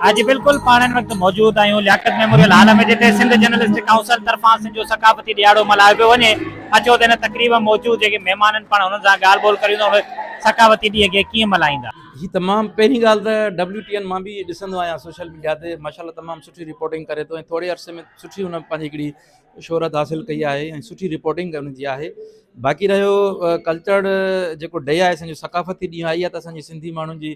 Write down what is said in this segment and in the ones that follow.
اڄ بلڪل پاڻ ان وقت موجود آهيون لياقت ميموريل هال ۾ جتي سنڌ جرنلسٽ ڪائونسل طرفان سنڌ جو ثقافتي ڏيهاڙو ملهايو پيو وڃي اچو ته هن تقريب ۾ موجود جيڪي مهمان آهن پاڻ انهن سان ڳالهه ٻولهه ڪريون ته اهي ثقافتي ڏينهن کي ڪيئن ملهائيندا. جي تمام پهرين ڳالهه ته ڊبليو ٽي اين مان به ڏسندو آهيان سوشل ميڊيا تي ماشاءالله تمام سٺي رپورٽنگ ڪري ٿو ۽ ٿوري عرصي ۾ سٺي هن پنهنجي هڪڙي شهرت حاصل ڪئي آهي ۽ سٺي رپورٽنگ هن جي آهي باقي رهيو ڪلچر جيڪو ڊي آهي اسان جو ثقافتي ڏينهن آهي اها ته اسان جي سنڌي ماڻهن جي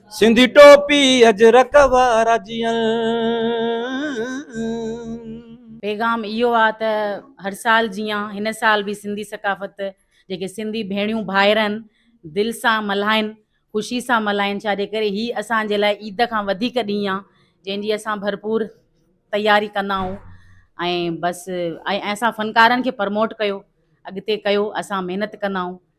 سنڌي ٽوپي اجرڪ وارا جيئن. پيغام اهو آ ته هر سال جيان هن سال به سنڌي ثقافت جيڪي سنڌي ڀيڻيون ڀائر آهن دل سان ملهائين خوشي سان ملهائين ڇا جي ڪري هي اسان جي لاء عيد کان وڌيڪ ڏينهن آ جنهن جي اسان ڀرپور تياري ڪندا آهون ۽ بس ۽ اسان فنڪارن کي پرموٽ ڪيو اڳتي ڪيو اسان محنت ڪندا آهون.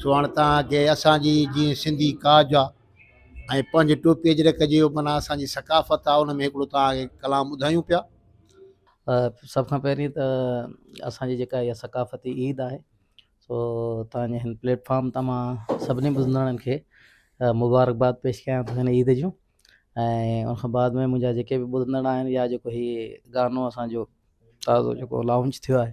سو هاڻي تان کي اسان جي جيئن سنڌي ڪاج آ ۽ پنج ٽوپي جي رک جي معنيٰ اسان جي ثقافت آ ان ۾ هڪڙو تان کي ڪلام ٻڌايون پيا. سڀ کان پهرين ته اسان جي جيڪا هي ثقافتي عيد آهي سو تان جي هن پليٽ فارم تان مان سڀني ٻڌندڙن کي مبارڪباد پيش ڪيان ٿو هن عيد جون ۽ ان کان بعد ۾ منهنجا جيڪي به ٻڌندڙ آهن يا جيڪو هي گانو اسان جو تازو جيڪو لانچ ٿيو آهي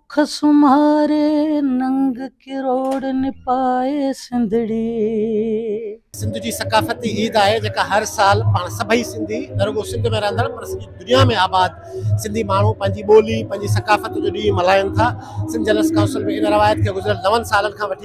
اک سمهاري ننگ ڪروڙ نپائي سنڌڙي. سنڌ جي ثقافتي عيد آهي جيڪا هر سال پاڻ سڀئي سنڌي نه رڳو سنڌ ۾ رهندڙ پر سڄي دنيا ۾ آباد سنڌي ماڻهو پنهنجي ٻولي پنهنجي ثقافت جو ڏينهن ملهائين ٿا سنڌ جنرلس ڪائونسل به ان روايت کي گذريل نون سالن کان وٺي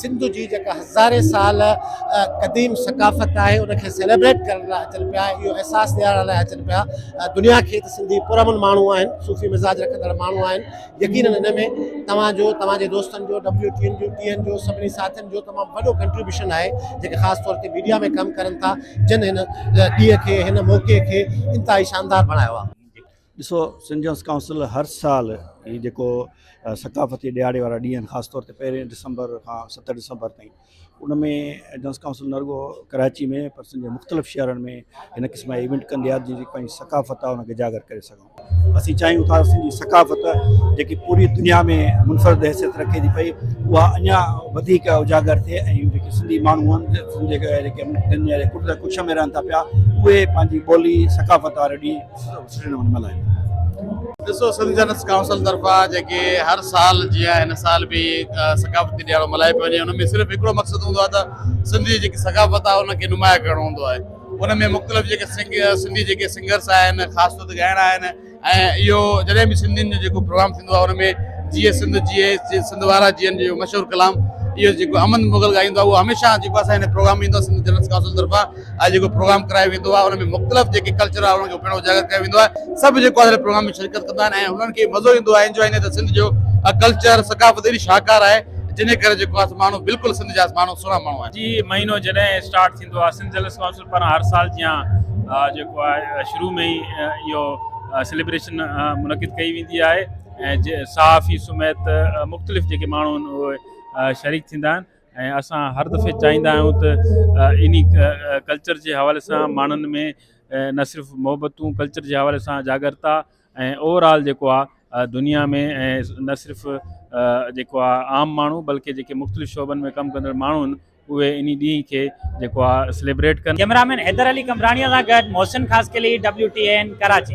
سنڌ جي جيڪا هزارين سال قديم ثقافت آهي ان کي سيليبريٽ ڪرڻ لاء اچن پيا اهو احساس ڏيارڻ لاء اچن پيا دنيا کي ته سنڌي پرامن ماڻهو آهن صوفي مزاج رکندڙ ماڻهو آهن يقينن ان ۾ توهان جو توهان جي دوستن جو ڊبليو ٽي اين جو ٽي اين جو سڀني ساٿين جو تمام وڏو ڪنٽريبيوشن آهي جيڪي خاص طور تي ميڊيا ۾ ڪم ڪرن ٿا جن هن ڏينهن کي هن موقعي کي انتهائي شاندار بڻايو آهي ڏسو سنجنس ڪائونسل هر سال هي جيڪو ثقافتي ڏيهاڙي وارا ڏينهن خاص طور تي پهرين ڊسمبر کان ست ڊسمبر تائين ان ۾ جنس ڪائونسل نه رڳو ڪراچي ۾ پر سنجن مختلف شهرن ۾ هن قسم جا ايونٽ ڪندي آهي جيڪي پنهنجي ثقافت آهي ان کي اجاگر ڪري سگهون اسين چاهيون ٿا سنجي ثقافت جيڪي پوري دنيا ۾ منفرد حيثيت رکي ٿي پئي اها اڃا وڌيڪ اجاگر ٿئي ۽ جيڪي سنڌي ماڻهو آهن جيڪي دنيا جي ڪڏهن ڪڇ ۾ رهن ٿا پيا اهي پنهنجي ٻولي ثقافت واري ڏينهن ڏسو سنڌ جنس ڪائونسل طرفان جيڪي هر سال جيان هن سال به ثقافتي ڏيهاڙو ملهايو پيو وڃي ان ۾ صرف هڪڙو مقصد هوندو آهي ته سنڌي جيڪي ثقافت آهي ان کي نمايان ڪرڻو هوندو آهي ان ۾ مختلف جيڪي سنڌي جيڪي سنگرس آهن خاص طور تي ڳائڻا آهن ۽ اهو جڏهن به سنڌين جو جيڪو پروگرام ٿيندو آهي ان ۾ جيئي سنڌ جيئي سنڌ وارا جيئن جو مشهور ڪلام اهو جيڪو امن مغل ڳائيندو آهي اهو هميشه جيڪو اسان هن پروگرام ۾ ايندو آهي سنڌ جنس ڪائونسل طرفان اڄ جيڪو پروگرام ڪرايو ويندو آهي ان ۾ مختلف جيڪي ڪلچر آهي انهن کي پڻ اجاگر ڪيو ويندو آهي سڀ جيڪو آهي پروگرام ۾ شرڪت ڪندا آهن ۽ انهن کي مزو ايندو آهي انجوائي ايندو آهي سنڌ جو ڪلچر ثقافت ايڏي شاهڪار آهي جنهن جي ڪري جيڪو آهي ماڻهو بلڪل سنڌ جا ماڻهو سهڻا ماڻهو آهن. جي مهينو جڏهن اسٽارٽ ٿيندو آهي سنڌ جلسه ڪائونسل پاران هر سال جيان جيڪو آهي شروع ۾ ئي اهو سيليبريشن منعقد ڪئي ويندي آهي ۽ صحافي سميت مختلف جيڪي ماڻهو آهن اهي شريڪ ٿيندا آهن ۽ اسان هر دفعي چاهيندا آهيون ته انهي ڪلچر جي حوالي سان ماڻهن ۾ نه صرف محبتون ڪلچر جي حوالي سان جاڳرتا ۽ اوور آل جيڪو آهي دنيا ۾ ۽ نه صرف جيڪو آهي عام ماڻهو بلڪه جيڪي مختلف شعبن ۾ ڪم ڪندڙ ماڻهو آهن اهي انهي ڏينهن کي جيڪو آهي سليبريٽ ڪن. ڪئميرا مين حيدر علي قمبراڻيء سان گڏ محسن خاصخيلي، WTAN، ڪراچي.